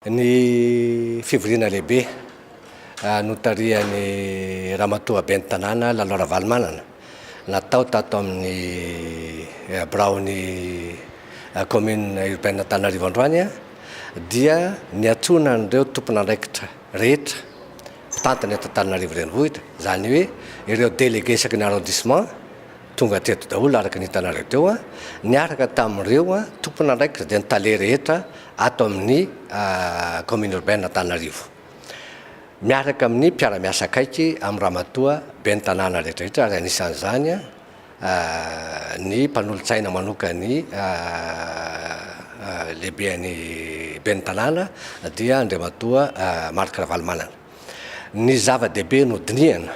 Ny fivoriana lehibe notarihan'i Ramatoa Ben'ny Tanàna Lalo Ravalomanana natao tato amin'ny biraon'ny Commune Urbaine Antananarivo androany dia niantsoana an'ireo tompon'andraikitra rehetra mpitantana eto Antananarivo Renivohitra, izany hoe ireo délégués isaky ny arrondissement tonga teto daholo araka ny hitanareo teo, niaraka tamin'ireo tompon'andraikitra dia ny tale rehetra, ato amin'ny Commune Urbaine Antananarivo. Miaraka amin'ny mpiara-miasa akaiky amin'ny Ramatoa Ben'ny Tanàna rehetrarehetra ary anisan'izany ny mpanolotsaina manokan'ny Lehiben'ny Ben'ny Tanàna dia Andriamatoa Marc Ravalomanana. Ny zava-dehibe nodinihana,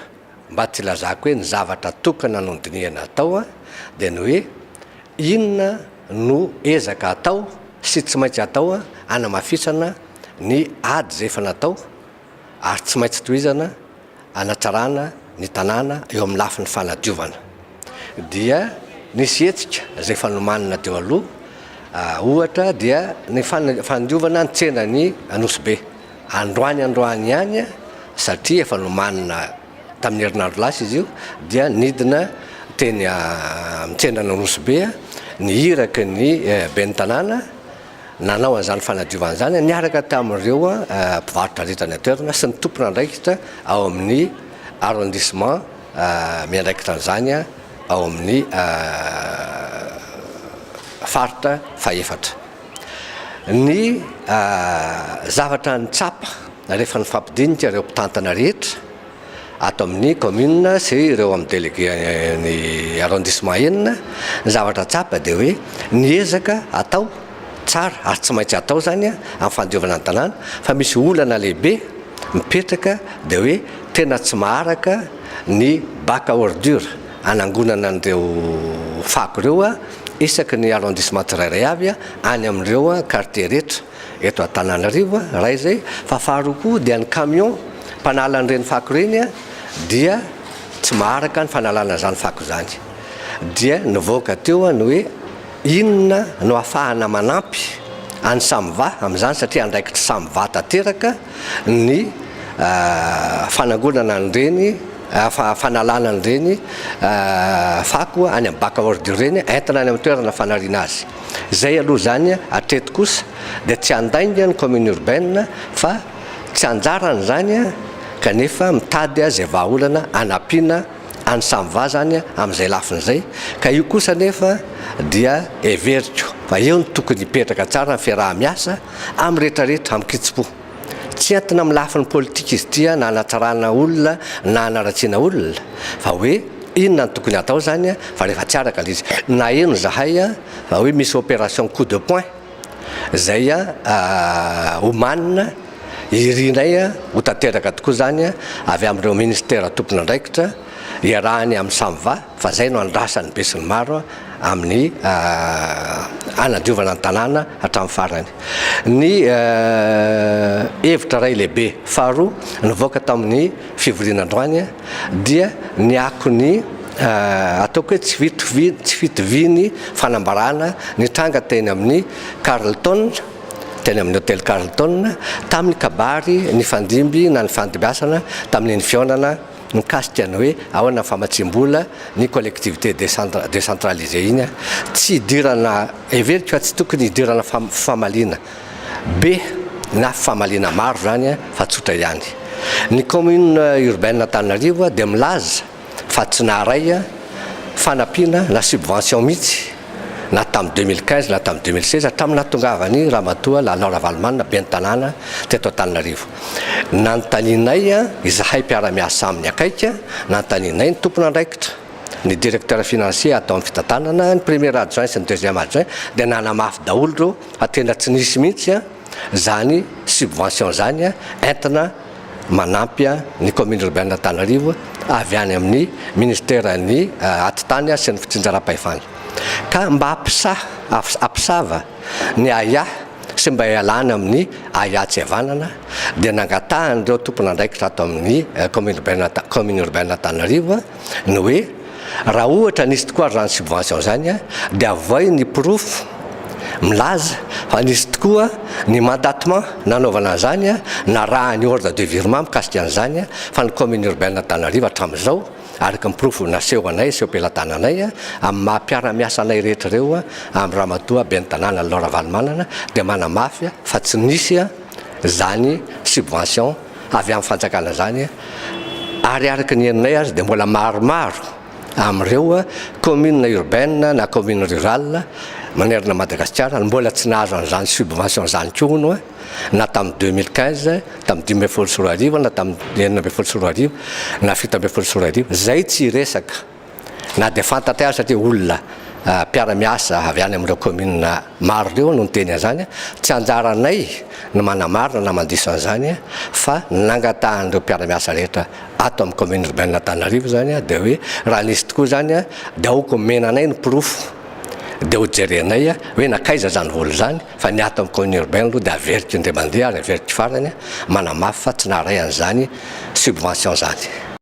mba tsy hilazako hoe ny zavatra tokana nodinihana atao, dia ny hoe inona no ezaka atao sy tsy maintsy atao hanamafisana ny ady izay efa natao ary tsy maintsy tohizana hanatsarana ny tanàna eo amin'ny lafiny fanadiovana. dia nisy hetsika izay efa nomanina teo aloha, ohatra dia ny fandiovana ny tsenan'i Anosibe, androany androany ihany satria efa nomanina tamin'ny herinandro lasa izy io dia nidina teny amin'ny tsenan'Anosibe ny iraky ny ben'ny tanàna nanao an'izany fanadiovana izany niaraka tamin'ireo mpivarotra rehetra any an-toerana sy ny tompon'andraikitra ao amin'ny arrondissement miandraikitra an'izany ao amin'ny faritra fahefatra. Ny zavatra nitsapa rehefa nifampidinika ireo mpitantana rehetra ato amin'ny kaominina sy ireo amin'ny delegen'ny arrondissement enina, ny zavatra tsapa dia hoe ny ezaka atao tsara ary tsy maintsy atao izany amin'ny fandiovana ny tanàna fa misy olana lehibe mipetraka dia hoe tena tsy maharaka ny bac à ordures hanangonana an'ireo fako ireo isaky ny arrondissement tsirairay avy any amin'ireo quartiers rehetra eto Antananarivo, iray izay, fa faharoa koa dia ny camion mpanala an'ireny fako ireny dia tsy maharaka ny fanalana izany fako izany dia nivoaka teo ny hoe Inona no ahafahana manampy an'i Samva amin'izany satria andraikitr'i Samva tanteraka ny fanangonana an'ireny, fanalana an'ireny fako any amin'ny Backaord ireny entina any amin'ny toerana fanariana azy. Izay aloha izany hatreto kosa dia tsy handainga ny commune urbaine fa tsy anjarany izany kanefa mitady izay vahaolana hanampiana any samy va zany amin'izay lafiny izay ka io kosa anefa dia heveriko fa eo no tokony hipetraka tsara ny fiaraha-miasa amin'ny rehetra rehetra amin-kitsim-po. Tsy entina amin'ny lafiny politika izy ity na hanatsarana olona na hanaratsiana olona fa hoe inona no tokony hatao zany fa rehefa tsy araka ilay izy. Naheno zahay fa hoe misy opération coup de poing. Zay ah omanina irinay ho tanteraka tokoa zany avy amin'ireo ministera tompon'andraikitra iarahany amin'ny Samva fa zay no andrasan'ny besinimaro amin'ny hanadiovana ny tanàna hatramin'ny farany ny hevitra iray lehibe faharoa nivoaka tamin'ny fivoriana androany dia ny akon'ny ataoko hoe tsy fitovian'ny fanambarana nitranga teny amin'ny Carlton, teny amin'ny hotely Carlton, tamin'ny kabary nifandimby na nifandimbiasana tamin'iny fihaonana mikasika ny hoe ahoana ny famatsiam-bola ny collectivités décentralisées iny, tsy hidirana, heveriko fa tsy tokony hidirana famaliana. be na famaliana maro izany fa tsotra ihany. Ny Commune Urbaine Antananarivo dia milaza fa tsy naharay fanampiana na subvention mihitsy na tamin'ny deux mille quinze na tamin'ny deux mille seize hatramin'ny nahatongavan'i Ramatoa Lalao Ravalomanana Ben'ny Tanàna teto Antananarivo. Nanontanianay izahay mpiara-miasa aminy akaiky, nanontanianay ny tompon'andraikitra, ny Directeur Financier ato amin'ny fitantanana, ny Premier Adjoint sy ny Deuxième Adjoint dia nanamafy daholo ireo Fa tena tsy nisy mihitsy izany subvention izany entina manampy ny commune urbaine Antananarivo avy any amin'ny ministeran'ny atitany sy ny fitsinjaram-pahefana. Ka mba ampisaha, ampisava ny aia sy mba ialana amin'ny aia tsy havanana dia nangatahan'ireo tompon'andraikitra ato amin'ny commune urbaine Antananarivo, ny hoe raha ohatra nisy tokoa ary zany subvention zany a de avoay ny porofo milaza fa nisy tokoa ny mandatement nanaovana an'izany a na raha ny ordre de virement mikasika an'izany a fa ny commune urbaine Antananarivo hatramin'izao araka ny porofo naseho anay sy am-pelatananay a amin'ny maha mpiara-miasa anay rehetra ireo a amin'ny ramatoa ben'ny tanàna Laura Valomanana dia manamafy fa tsy nisy a zany subvention avy amin'ny fanjakana zany ary araka ny henonay aza dia mbola maromaro amin'ireo commune urbaine na commune rurale manerana Madagasikara no mbola tsy nahazo an'izany subvention zany koa hono na tamin'ny deux mille quinze tamin'ny dimy ambin'ny folo sy roa arivo na tamin'ny enina ambin'ny folo sy roa arivo na fito ambin'ny folo sy roa arivo zay tsy hiresaka Na dia fantatray aza satria olona mpiara-miasa avy any amin'ireo kaominina maro ireo no niteny an'izany, tsy anjaranay ny manamarina na mandiso an'izany fa ny nangatahan'ireo mpiara-miasa rehetra ato amin'ny kaominina Urbain'Antananarivo izany dia hoe raha nisy tokoa izany dia aoka omena anay ny porofo dia hojerenay hoe nankaiza izany vola izany fa ny ato amin'ny kaominina Urbain aloha dia averiko indray mandeha ary averiko farany manamafy fa tsy naharay an'izany subvention izany.